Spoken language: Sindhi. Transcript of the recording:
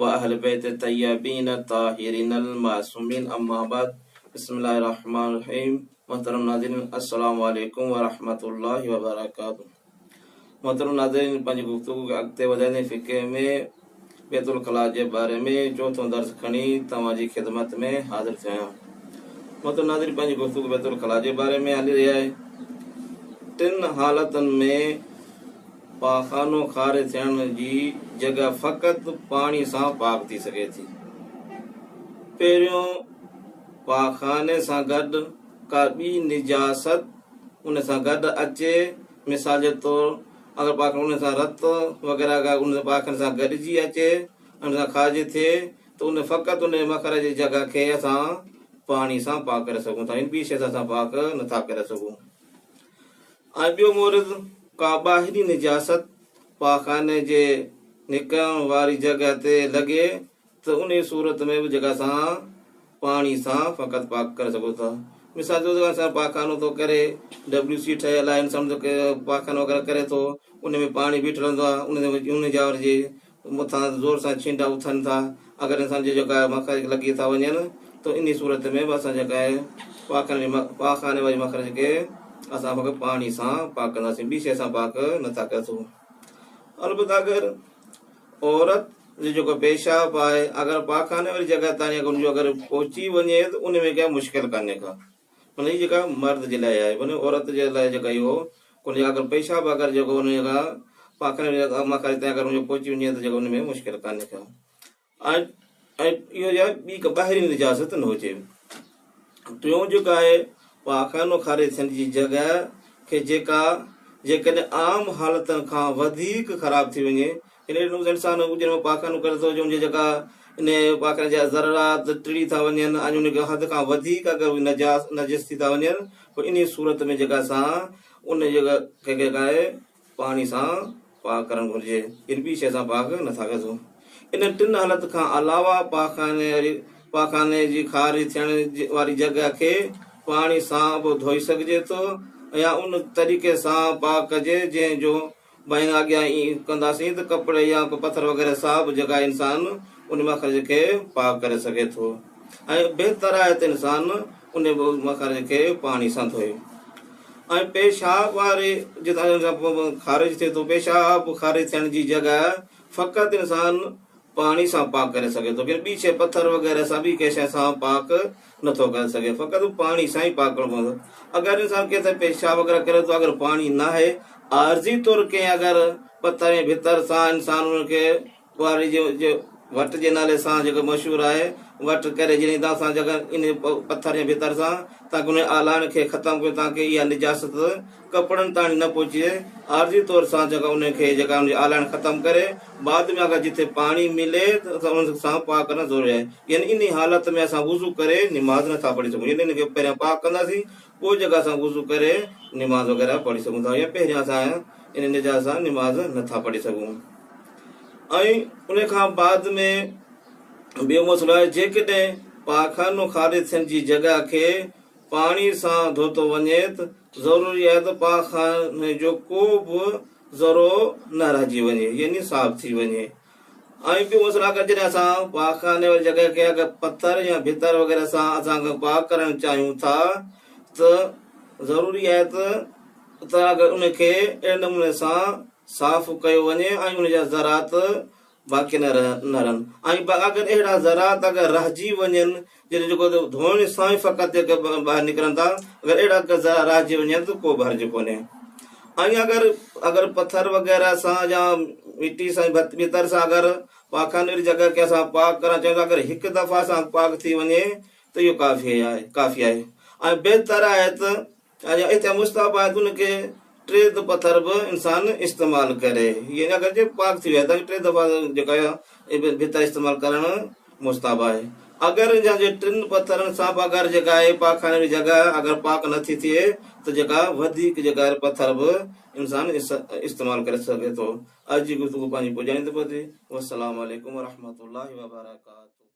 واهل بيت طيبين الطاهرين المعصومين اما بعد بسم الله الرحمن الرحيم محترم ناظرين السلام عليكم ورحمة الله وبرڪاته محترم ناظرين پنهنجي گفتگو کي اڳتي وڌائيندي فقه ۾ بيت الخلا جي باري ۾ چوٿون درس کڻي توهان جي خدمت ۾ حاضر ٿيو آهيان محترم ناظرين پنهنجي گفتگو بيت الخلا جي باري ۾ هلي رهي آهي ٽن حالتن ۾ پاخانو خارج ٿيڻ جي جڳهه فقط پاڻي سان پاڪ ٿي سگهي ٿي. پهريون پاخاني سان گڏ ڪا ٻي نجاست ان سان گڏ اچي مثال جي طور اگر پاخاني ان سان رت وغيره ڪا ان پاخاني سان گڏجي اچي ان سان خارج ٿئي ته ان فقط ان مخرج جي جڳهه کي اسان پاڻي سان پاڪ ڪري سگهون ٿا يعني ٻي شي سان اسان پاڪ نٿا ڪري سگهون. ۽ ٻيو مورد ڪا ٻاهري نجاست پاخاني جي نڪرڻ واري جڳهه تي لڳي ته انهي صورت ۾ به جڳهه سان پاڻي سان فقط پاڪ ڪري سگهو ٿا. مثال طور جيڪڏهن انسان پاخانو ٿو ڪري، ڊبليو سي ٺهيل آهي، انسان پاخانو وغيره ڪري ٿو، انهي ۾ پاڻي بيٺل هوندو آهي، انهي جاء ورجي مٿان زور سان ڇينڊا اٿن ٿا، اگر انسان جي جيڪا آهي مخارج لڳي ٿا وڃن ته انهي صورت ۾ به اسان جيڪا آهي پاخاني واري مخرج کي اسان فقط پاڻي سان پاڪ ڪنداسين ٻي شيء سان پاڪ نه ٿا ڪري سگهون البته اگر عورت جو جيڪو پيشاب آهي اگر پاخاني واري جڳهه تائين اگر ان جو اگر پهچي وڃي ته ان ۾ ڪا مشڪل ڪانهي ڪا مطلب هي جيڪا مرد جي لاء آهي مطلب عورت جي لاء جيڪا اهو ان جا اگر پيشاب اگر جيڪو ان جا پاخن جا اڳما ڪري تي اگر ان جو پهچي وڃي ته جيڪو ان ۾ مشڪل ڪانهي ڪا ۽ ۽ اهو جا ٻي ڪا ٻاهرين نجاست نه هجي ٽيون جيڪو آهي پاخانو خارج ٿيڻ جي جڳهه کي جيڪا جيڪڏهن عام حالتن کان وڌيڪ خراب ٿي وڃي انهيء نوز انسان اجهي ۾ پاخن ڪري ٿو جو ان جي جيڪا انهيء پاخن جا ذرات ٽڙي ٿا وڃن ۽ ان کان حد کان وڌيڪ اگر اهي نجاس، نجس، ٿي ٿا وڃن پوء انهيء صورت ۾ جيڪا سان ان جي ڪنهن کي ڪاهي پاڻي سان پاڪ ڪرڻ گهرجي يعني ٻي شيء سان پاڪ نه ٿا ڪجو. انهن ٽن حالت کان علاوه پاخاني واري پاخاني جي خارج ٿيڻ واري جڳهه کي پاڻي سان به ڌوئي سگهجي ٿو يا ان طريقي سان پاڪ ڪجي جنهن جو بائين اڳيان ائين ڪنداسين ته ڪپڙي يا ڪو پٿر وغيره ساهه به جڳائي انسان ان مخرج کي پاڪ ڪري سگهي ٿو ۽ بهتر آهي ته انسان ان مخرج کي پاڻي سان ڌوئي ۽ پيشاب واري جتان کارج ٿئي ٿو پيشاب خارج ٿيڻ جي جڳهه فقط انسان پاڻي سان پاڪ ڪري سگهي ٿو بير ٻي شيء پٿر وغيره سان ٻي ڪنهن شيء سان پاڪ نٿو ڪري سگهي فقط هو پاڻي سان ئي پاڪ ڪرڻو پوندو اگر انسان ڪنهن تي پيشاب وغيره ڪري ٿو اگر پاڻي ناهي عارضي طور ڪنهن اگر پٿر ۽ ڀتر سان انسان ان کي ٻهراڙي جي جي وٽ جي نالي سان جيڪو مشهور آهي وٽ ڪري جڏهن تان سان جيڪا ان پٿر ۽ ڀتر سان تان ڪنهن آلاڻ کي ختم ڪيو تان ڪي اها نجاست ڪپڙن تائڻ نه پهچي ۽ عارضي طور سان جيڪا انهن کي جيڪا ان جي آلائڻ ختم ڪري بعد ۾ آخر جتي پاڻي ملي ته اسان ان سان پاڪ ڪرڻ ضروري آهي يعني انهي حالت ۾ اسان وضو ڪري نماز نه ٿا پڙهي سگهون يعني ان کي پهريان پاڪ ڪنداسين پوء جيڪا اسان وضو ڪري نماز وغيره پڙهي سگهون ٿا يعني پهريان اسان انهي نجاست سان نماز نه ٿا پڙهي سگهون ۽ انهي کان بعد ۾ ٻيو مسئلو آهي جيڪڏهن پاخانو خارج ٿيڻ جي جڳهه کي پاڻي سان ڌوتو وڃي ته ضروري آهي ته پاڪ خاني جو ڪو به ذرو نه رهجي وڃي يعني صاف ٿي وڃي ۽ ٻيو مسئلو اگر جڏهن اسان پاڪ خاني واري جڳهه کي اگر پٿر يا ڀتر وغيره سان اسان پاڪ ڪرڻ چاهيون ٿا ته ضروري آهي ته اتان اگر ان کي اهڙي نموني سان صاف ڪيو وڃي ۽ ان جا ذرات باقي نه رهن ۽ اگر اهڙا ذرات اگر رهجي وڃن جن جيڪو ڌوئڻ سان ئي فقط ٻاهر نڪرن ٿا اگر اهڙا ذرا رهجي وڃن ته ڪو به حرج ڪونهي ۽ اگر اگر پٿر وغيره سان يا مٽي سان ڀتر سان اگر پاخاني واري جڳهه کي اسان پاڪ ڪرڻ چاهيون ٿا اگر هڪ دفعا سان پاڪ ٿي وڃي ته اهو ڪافي آهي ڪافي آهي ۽ بهتر آهي ته ڇاجو اتي مستحب آهي ته ان کي ٽي پٿر به انسان استعمال ڪري يعني اگر جي پاڪ ٿي ويا ته ٽي دفعا جيڪا ڀت استعمال ڪرڻ مستحب آهي اگر ان جي ٽن پٿرن سان به اگر جيڪا آهي پاخاني جي جڳهه اگر پاڪ نه ٿي ٿئي ته جيڪا وڌيڪ جيڪا پٿر به انسان استعمال ڪري سگهي ٿو اڄ جي گفتگو پنهنجي پڄائيندي پوندي والسلام عليڪم ورحمة الله وبرڪاته